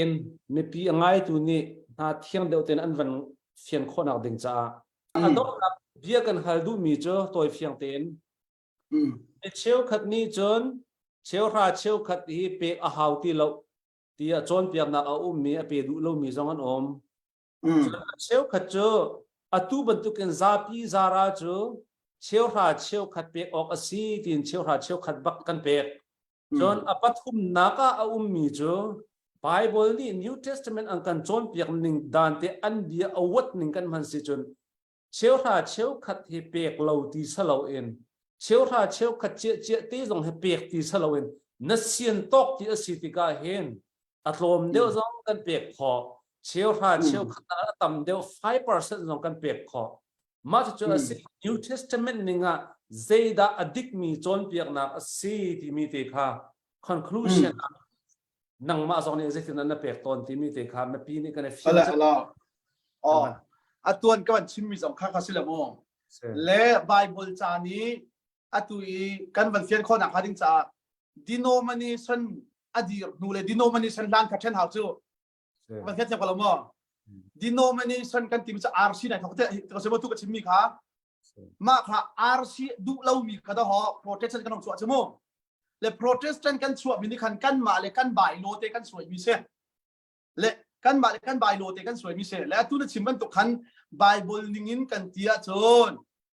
in mipi a ngaitu nih hna thiang deuh tein an van fian khawhnak ding caah a donghnak bia kan hal duhmi cu tawi fiang tein mi cheukhat nih cun cheuhra cheukhat hi pek a hau ti lo ti a cawnpiaknak a ummi a pe duh lomi zong an um Cheukhat cu atu bantukin zapi zara cu cheuhra cheukhat pek awk a si tiin cheuhra cheukhat bak kan pek. Cun a pathumnak ah a ummi cu Baibal nih New Testament an kan cawnpiak ning dante an bia a huat ning kan hman si cun cheuhra cheukhat hi pek lo ti siloin cheuhra cheukhat ciahciah te zong hi pek ti siloin na sian tawk ti a si tikah hin a tlawm deuh zong kan pek khawh cheuhra cheukhat a tam deuh 5% zong kan pek khawh mah cucu a si New Testament ning ah zeidah a dikmi cawnpiaknak a si timi te kha conclusion ah nangmah zong nih zeitin na pek tawn timi te kha mipi nih kan i fial oh a tuan kan chimmi zong kha kha si le mu le bible ca nih atu i kan van fian khawnak hnga ding caah denomination a dir hnu le denomination lan kha chen hau cu Van hmet ko lo maw? Denomination kan tim sa RC nai thok te te ko se tu ka chim mi kha ma kha RC du lo mi kha da ho Protestant kan chu a chemu le Protestant kan chu mi ni khan kan ma le kan bai lo te kan suai mi se le kan ma le kan bai lo te kan suai mi se le tu na chim ban to khan Bible ning in kan tia chun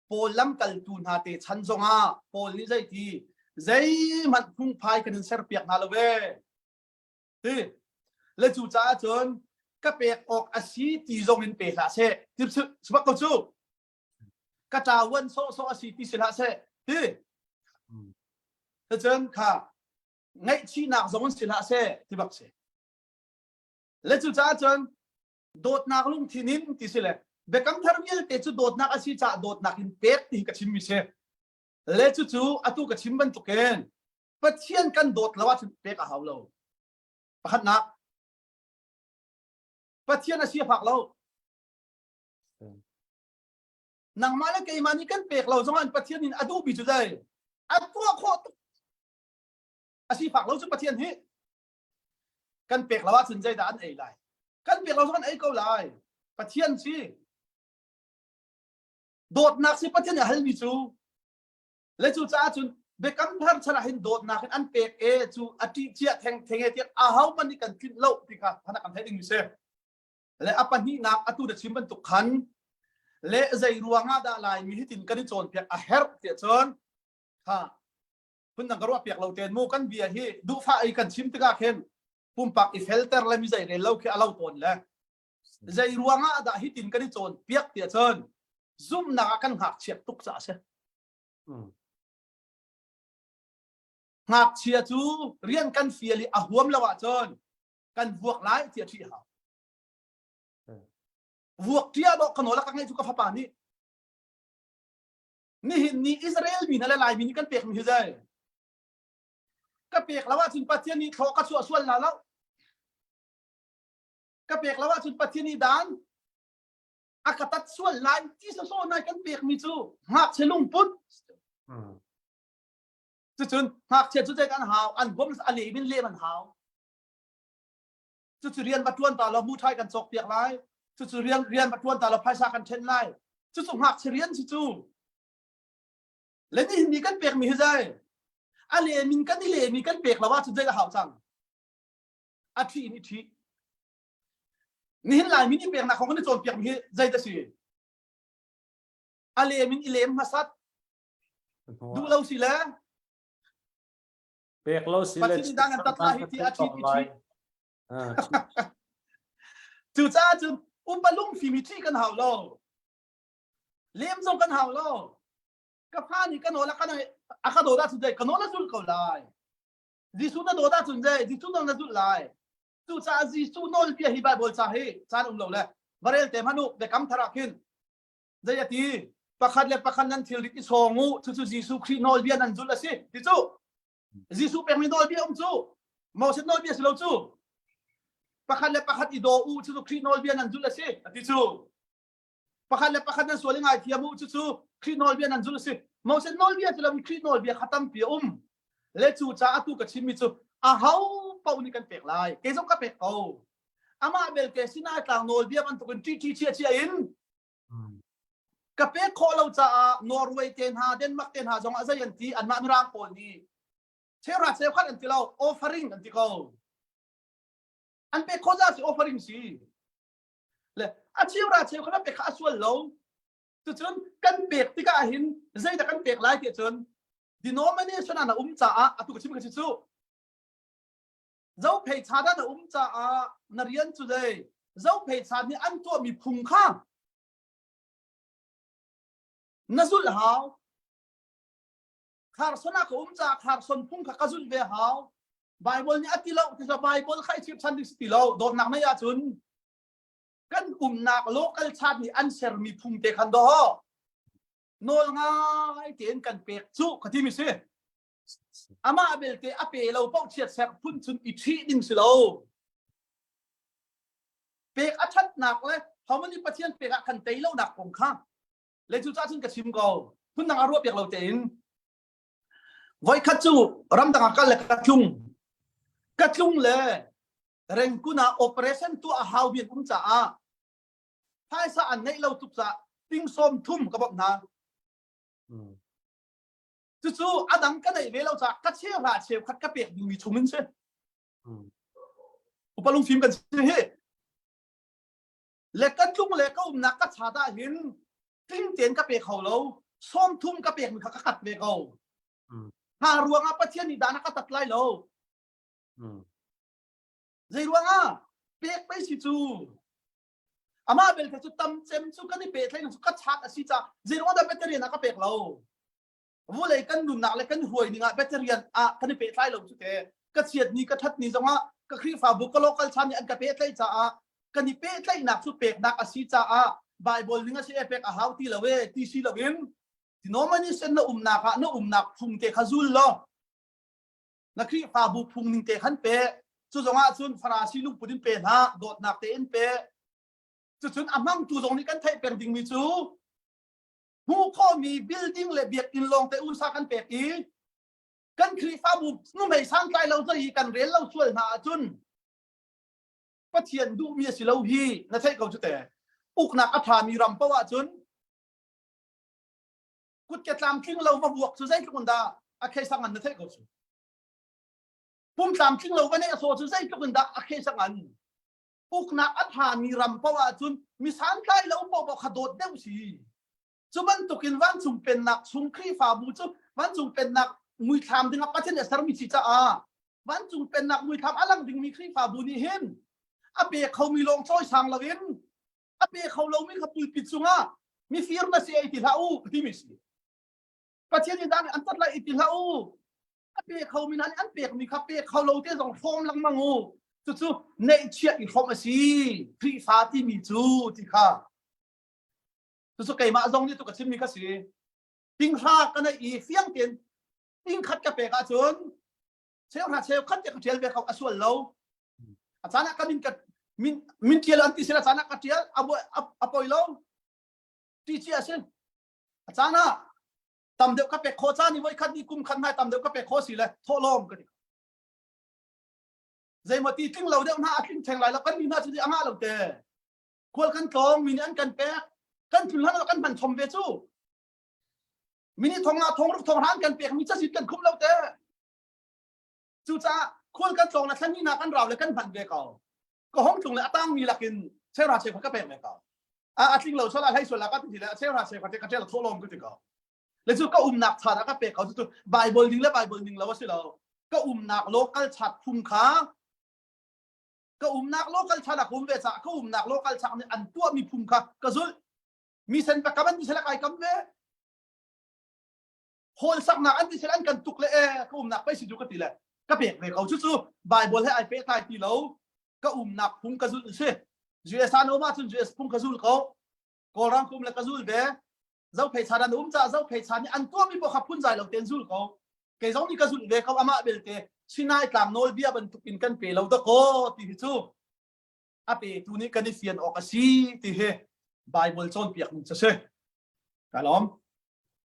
Paul lam kal tu hna te chan zonga Paul ni zai ti zei man phung phai kan in ser piak na lo ve ti le cu caah cun ka pek awk a si ti zong in pe hlah seh ti sibak ko cu ka ṭawan sawhsawh a si ti si hlah seh ti cun kha ngaihchihnak zong in si hlah seh ti bak si le cu caah cun dawtnak lungthin in ti si le biakam thar vialte cu dawtnak a si caah dawtnak in pek ti ka chimmi si le cu cu atu ka chim bantukin Pathian kan dawt lo ahcun pek a hau lo. Pakhatnak, Pathian a si fak lo. Nangmah le keimah nih kan pek lo zongah Pathian in a duhmi cu dai a tuah khawh tuk. A si fak lo cu Pathian hi kan pek lo ahcun zeidah an ei lai? Kan pek lo zongah an ei ko lai. Pathian si. Dawtnak si Pathian a halmi cu le cucaah cun biakam thar chalah hin dawtnak in an pek e cu a ṭih cia theng thenge tiah a ho hmanh nih kan tlinh lo ti kha phana kan theih ding mi si le a pahnihnak atu da chim bantuk khan le zei ruangah dah laimi hitin kan i cawnpiak a herh tiah cun ha phun dang ka ruah piak lo ten mu kan bia hi duhfa ei kan chim tikah khin pumpak i felter le mi zei rel lo khi a lo tawn le Zeiruangah dah hitin kan i cawnpiak tiah cun zumhnak ah kan ngakchia tuk caah a si. Ngakchia cu rian kan fial i a huam lo ahcun kan vuak lai tiah ṭih hau. Vuak ṭia dawh ka nawl ka ngaih cu ka fapa nih nihin ni Israel mi hna le Laimi nih kan pekmi hi zei ka pek lo ahcun Pathian nih thlawh ka chuah sual hna lo ka pek lo ahcun Pathian i dan a ka tat sual lai ti sawsawh nai kan pek mi cu ngakchia lungput cucun ngakchia cu cek an hau an bom a le min le an hau cucu rian ba tuan ta lo mu thai kan cawk piak lai cucu rian rian ba tuan ta lo phaisa kan then lai cucu ngakchia rian cu cu le ni ni kan pek mi hi zai a le min kan i le mi kan pek lo a cu cek a hau cang a thih in i thih nihin lai min i peknak kong kan i cawnpiak mi hi zeidah si a lem in i lem hmasat duh lo si le pek lo si le dan an tat hi ti a thit i thit cucaah cun upalung fimi thi kan hau lo lem zo kan hau lo ka fa nih kan ola kan a ka doda su dai kan ola zul ko lai Jesuh na dawt ahcun zei Jesuh nawl na zulh lai cucaah Jesuh nawlbia hi Baibal ca hi caan um lo le va rel te hmanh u biakam thar ah khin zei a ti pakhat le pakhat nan thilrit i sawng u cucu Jesuh Khrih nawlbia nan zulh a si ti cu Jesuh pekmi nawlbia um cu Moses nawlbia si lo cu pakhat le pakhat i daw u cucu Khrih nawlbia nan zulh a si a ti cu pakhat le pakhat nan sual i ngaithiam u cucu Khrih nawlbia nan zulh a si Moses nawlbia ti loin Khrih nawlbia kha tampi a um le cu caah tu ka chimmi cu aho paoh nih kan pek lai kei zong ka pek ko amah belte sinai tlang nawlbia bantukin ṭiṭi chia chia in ka pek khawh lo caah Norway te hna Denmark te hna zongah zei an ti anmah mirang pawl nih chera chekhat an ti lo offering an ti ko an pek khawh za si offering si le a cheu ra cheu kha pek kha a sual lo cucun kan pek tikah hin zeidah kan pek lai ti cun denomination an um caah atu ka chim ka si cu zophei cha dan a um caah na rian cu dei zophei cha nih an tuahmi phung kha na zulh hau Kharson ah ka um caah Kharson phung kha ka zulh ve hau. Bible nih a ti lo, ti Bible kha i chip than ding si ti lo. Dawtnak nei ahcun kan umnak local chat nih an sermi phung te khan do nawl ngai tein kan pek cu ka ti mi si amah belte a pe lo pauh chiat ser phun chun i ṭhi ding si lo pek a thatnak le homani pathian pek ah kan tei lo nak kong kha le cu cah cun ka chim ko phundang a ruah piak lo tein voikhat cu ramdang ah kal le ka tlung ka tlung le rengkun ah operation tuah a hau bian um caah phaisa an neih lo tuk cah ting sawm thum ka bawmh hna cucu a dang ka neih ve lo cah ka cheu hra cheu khat ka pek dingmi chung in si upalung fim kan si hi le kan tlung le ka umnak ka chat ah hin tling tein ka pe kho lo sawm thum ka pek mi kha ka kat ve ko hna ruang ah pathian nih dan a ka tat lai lo zei ruang ah pek pei si cu amah belte cu tam cem cu kan i pe thleng cu ka chat a si ca zei ruang ah dah pathian a ka pek lo vawlei kan nunnak le kan huai ning ah bacterian ah kan i pehtlai lo cu te ka chiat ni ka that ni zongah ka khrihfabu ka local chan nih an ka pehtlaih caah kan i pehtlaihnak cu peknak a si caah bible ning a si e pek a hau ti lo e ti si lo in ti nomani sen na umnak ah na umnak phung te kha zul lo na khrihfabu phung ning te khan pe cu zongah cun farasi lungput in pe hna dawtnak te in pe cucun a hmangtu zong nih kan theih peng dingmi cu hmuh khawhmi building le biakinn lawng te unsa kan pek i kan khrihfabu numei santlai lo hi kan rel lo sual hna ahcun pathian duhmi a si lo hi na theih ko cu te uknak a ṭhami ram poh ahcun kut ke tlamtling lo va vuak cu zeitluk dah a khei sang an na theih ko cu pum tlamtling lo va neih a so cu zeitluk dah a khei sang an uknak a thami ram poah ahcun mi santlai lo poah kha dawt deuh si cu bantukin vancung pennak chung khrihfabu cu vancung pennak muithlam dingah pathin a sermi si caah vancung pennak muithlam a lang dingmi khrihfabu nih hin a pe khomi lawng cawi sang loin a pe kho lomi kha pulpit cungah mifir na si ei ti hlah u timi si pathian in dan an tat lai i ti hlah u a pe kho mi hna nih an pek mi kha pe kho lo te zong hrawm lengmang u cucu neihchiah i hrawm a si Khrihfa ti mi cu ti kha cucu keimah zong nih tu ka chim mi ka si tinghra ka nei i fiang tein tingkhat ka pek ahcun cheu hna cheu khat ka ṭial ve kho a sual lo a caan ah ka min ka min min ṭial an ti sila caan ah ka ṭial a poi lo ṭi ci a si a caan ah tam deuh ka pek khawh caan i voikhat ni kum khat hna tam deuh ka pek khawh si le thawhlawm ka ti zeimaw ti tling lo deuh hna a tling theng lai lo kan ni hna cu a ngah lo te khual kan tlawng mi nih an kan pek kan thun hlan kan man thom ve cu mini thong la thong ruk thong ran kan pek mi chasit kan khum lo te Cucaah khual kan tlawng le thlanihnak kan rau le kan hman ve ko. Ka hong tlung le atangmi lakin chera se kha ka pek ve ko. A a tling lo sala hlai suala ka ti le a chera se kha ka tel tho lom ka ti ko. Le cu ka umnak chan a ka pek ko cu Bible ding le Bible ning lo a si lo. Ka umnak local chat phung kha ka umnak local chan a kum ve ca ka umnak local chan nih an tua mi phung kha ka zul mi sen pa kaman mi sela kai kam ve hawnsaknak an ti sel an kan tuk le e ka umnak pei si ju ka ti le ka pek ve ko cucu bible he ai pe thai ti lo ka umnak phung ka zul si US an um cun US phung ka zul ko kawlrang kum le ka zul ve zo phei chan an um ca zo phei chan an tua mi po kha phun zai lo ten zul ko kei zong ni ka zul ve ko ama belte sinai tlang nol bia bantuk in kan pe lo da ko ti hi chu a pe tu ni kan i fian ok a si ti he bible chon piak ni cha se ka lom